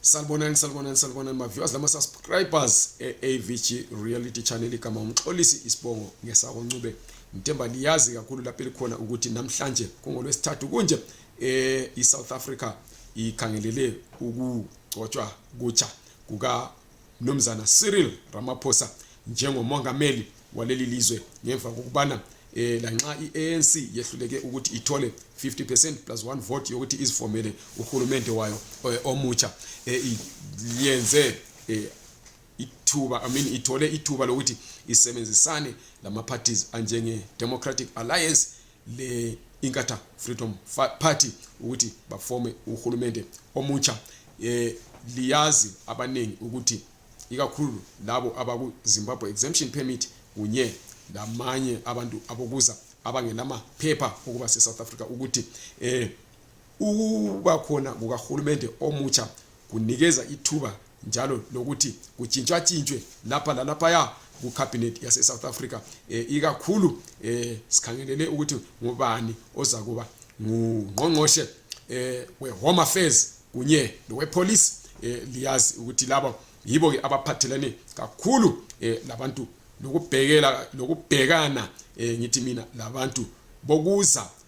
Salibonani salibonani salibonani ma viewers lama subscribers e AVG reality channel kama umxolisi isibongo ngesako Ncube ngithemba liyazi kakhulu lapho elikhona ukuthi namhlanje kungolwesithathu kunje eh iSouth Africa ikhangelele ukugcotshwa kutsha kuka Mnumzana Cyril Ramaphosa njengomongameli waleli lizwe ngemva kokubana eh lanxa iANC yehluleke ukuthi ithole 50% plus 1 vote yokuthi izifomele uhulumende wayo eh, omutsha eh, yenze eh, ithuba i mean ithole ithuba lokuthi isebenzisane lama parties anjenge Democratic Alliance le inkatha freedom party ukuthi bafome uhulumende omutsha eh liyazi abaningi ukuthi ikakhulu labo abaku Zimbabwe exemption permit kunye lamanye abantu abokuza abangelamaphepha okuba se-south africa ukuthi eh Ukuba khona kukahulumende omutsha kunikeza ithuba njalo lokuthi kutshintshwatshintshwe lapha lalaphaya kukhabhinethi yase-south africa um ikakhulu um sikhangelele ukuthi ngubani ozakuba ngungqongqoshe um we-home affairs kunye lowepolice um liyazi ukuthi laba yibo-ke abaphathelane kakhulu um labantu lokubhekela lokubhekana um ngithi mina labantu bokuza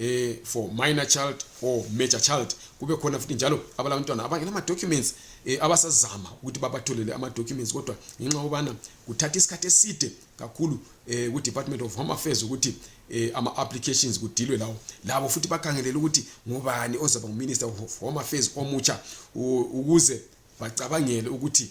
eh for minor child or major child kube khona futhi njalo abalabantwana abangela ama documents eh, abasazama ukuthi babatholele ama documents kodwa ngenxa yobana kuthatha isikhathi eside kakhulu eh, ku Department of Home Affairs ukuthi eh, ama applications kudilwe lawo labo futhi bakhangelele ukuthi ngubani ozaba nguminister of Home Affairs omutsha ukuze bacabangele ukuthi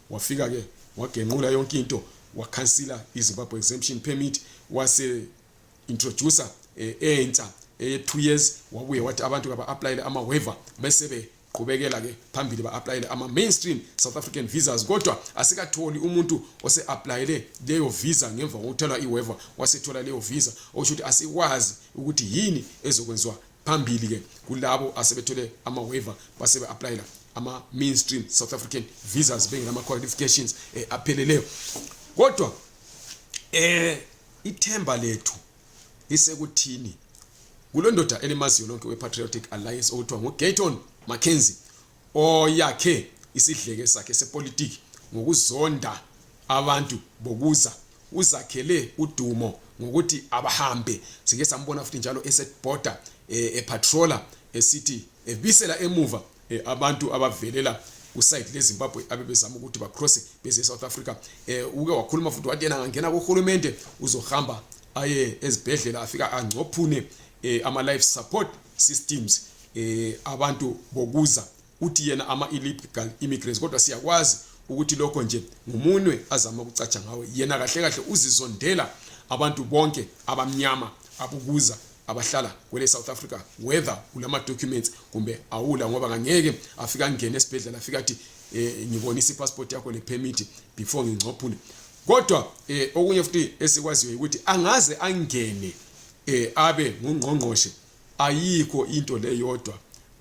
wafika ke wagenqula yonke into wakhansila izimbabwe exemption permit wase introducer eh, entsha eye eh, 2 years wabuye wathi abantu kaba-aplayele ama-waiver bese beqhubekela ke phambili ba-aplayele ama-mainstream south african visas kodwa asikatholi umuntu ose-aplayele leyo visa ngemva kokuthelwa i-waiver wasethola leyo visa okusho ukuthi asikwazi ukuthi yini ezokwenziwa phambili ke kulabo asebethole ama waiver basebe applyela ama mainstream South African visas bengelama qualifications eh, apheleleyo kodwa eh ithemba lethu lisekuthini kulondoda elimaziyo lonke wePatriotic Alliance okuthiwa nguGayton Mackenzie oyakhe isidleke sakhe sepolitiki ngokuzonda abantu bokuza uzakhele udumo ngokuthi abahambe sike sambona futhi njalo esebhoda eh, epatrola esithi ebisela emuva eh, abantu abavelela kusayidi lezimbabwe abebezama ukuthi bacrosse beze esouth africa um uke wakhuluma futhi wathi yena angangena kurhulumente uzohamba aye ezibhedlela afika angcophune um ama-life support systems eh abantu bokuza uthi yena ama illegal immigrants kodwa siyakwazi ukuthi lokho nje ngumunwe azama ukucatsha ngawe yena kahle kahle uzizondela abantu bonke abamnyama abukuza abahlala kwele South Africa whether ulama documents kumbe awula ngoba ngangeke afika ngene esibhedlela afika athi eh, ngibonisa ipassport yakho le permit before ngingcophule kodwa eh, okunye futhi esikwaziyo ukuthi angaze angene eh, abe ngungqongqoshe ayikho into leyodwa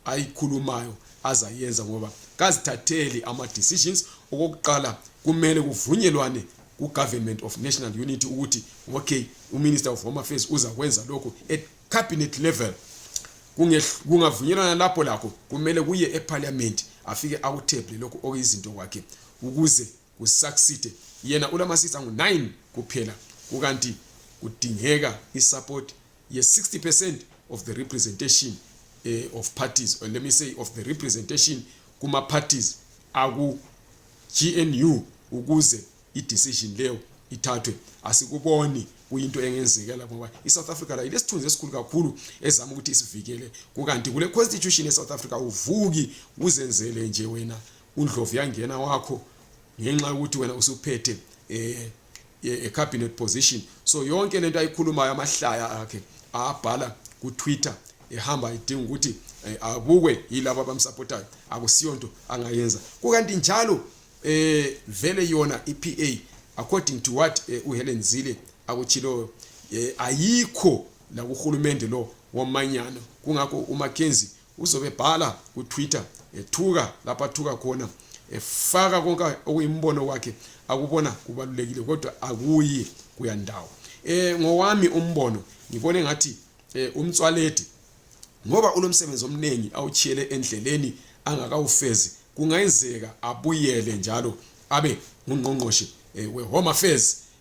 ayikhulumayo azayenza ngoba kazithatheli ama decisions okokuqala kumele kuvunyelwane ku government of national unity ukuthi okay u minister of home affairs uza kwenza lokho at cabinet level kungavunyelwana lapho lakho kumele kuye e parliament afike akutheble lokho okuyizinto kwakhe ukuze kusucceed yena ulama seats angu 9 kuphela kukanti kudingeka isupport ye 60% of the representation eh, of parties or let me say of the representation kuma parties aku GNU ukuze i decision leyo ithathwe asikuboni kuyinto engenzekela ngoba iSouth Africa la ilesithunzi esikhulu kakhulu ezama ukuthi isivikele kukanti kule constitution yeSouth Africa uvuki uzenzele nje wena undlovu yangena wakho ngenxa yokuthi wena usuphethe eh a cabinet position so yonke lento ayikhulumayo amahlaya akhe abhala ku Twitter ehamba idinga ukuthi eh, abukwe yilabo abamsupportayo akusiyonto angayenza kukanti njalo eh vele yona iPA according to what eh, uHelen Zile akuchiloyo eh, ayikho la kuhulumende lo womanyano kungakho uMackenzie uzobe bhala ku Twitter ethuka lapho athuka khona efaka konke okuyimbono wakhe akubona kubalulekile kodwa akuyi kuyandawo eh ngowami umbono ngibone ngathi eh, umtswaledi ngoba ulomsebenzi omningi awuchiyele endleleni angakawufezi kungayenzeka abuyele njalo abe ngungqongqoshe eh, we home affairs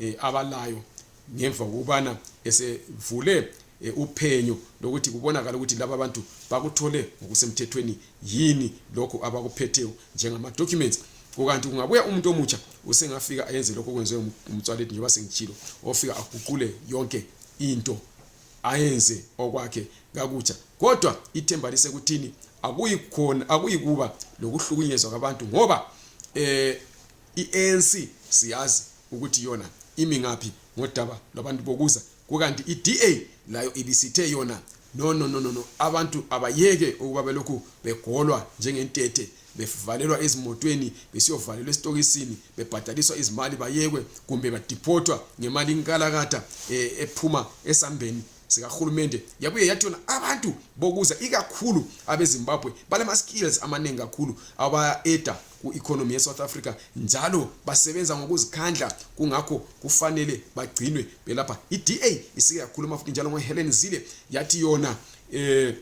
eh, abalayo ngemva kokubana esevule eh, uphenyo lokuthi kubonakala ukuthi laba bantu bakuthole ngokusemthethweni yini lokhu abakuphetheyo njengama-documents kukanti kungabuya umuntu omutsha usengafika ayenze lokho okwenziwe umtswaledi njengoba sengitshilo ofika aguqule yonke into ayenze okwakhe kakutsha kodwa ithemba lisekuthini akuyikhona akuyikuba lokuhlukunyezwa kwabantu ngoba eh i-anc siyazi ukuthi yona imi ngaphi ngodaba lwabantu bokuza kukanti i-da layo ibisithe yona no no no no no abantu abayeke ukuba belokhu begolwa njengentethe bevalelwa ezimotweni besiyovalelwa esitokisini bebhadaliswa izimali bayekwe kumbe badiphothwa ngemali inkalakatha eh, ephuma esambeni sikahulumende yabuye yathi yona abantu bokuza ikakhulu abezimbabwe balama-skills amaningi kakhulu aba-eda ku-economy ye-south africa njalo basebenza ngokuzikhandla kungakho kufanele bagcinwe belapha i-da isike yakhuluma futhi njalo ngohelen zile yathi yona um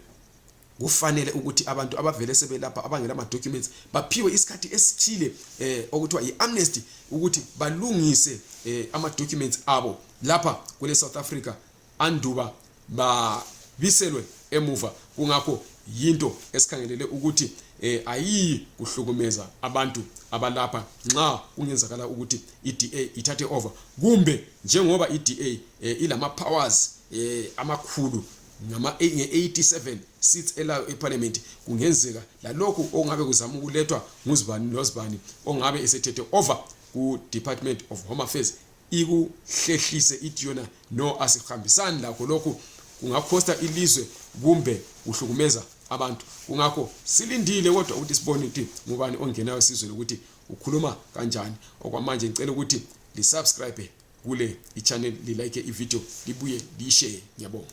kufanele ukuthi abantu abavele sebelapha abangela ama-documents baphiwe isikhathi esithile eh okuthiwa yi-amnesty ukuthi balungise eh ama-documents abo lapha kule-south africa anduba babiselwe emuva kungakho yinto esikhangelele ukuthi eh ayiyi kuhlukumeza abantu abalapha nxa kungenzakala ukuthi iDA ithathe over kumbe njengoba iDA eh, ilama powers eh amakhulu ngama 87 seats elayo eparliament kungenzeka lalokho ongabe kuzama ukulethwa nguzibani nozibani ongabe esethethe over ku Department of Home Affairs ikuhlehlise ithi yona no asihambisani lakho lokhu kungakhosta ilizwe kumbe kuhlukumeza abantu kungakho silindile kodwa ukuthi sibone ukuthi ngubani ongenayo sizweni ukuthi ukhuluma kanjani okwamanje ngicela ukuthi lisubscribe kule ichannel lilike ivideo libuye liyishare ngiyabonga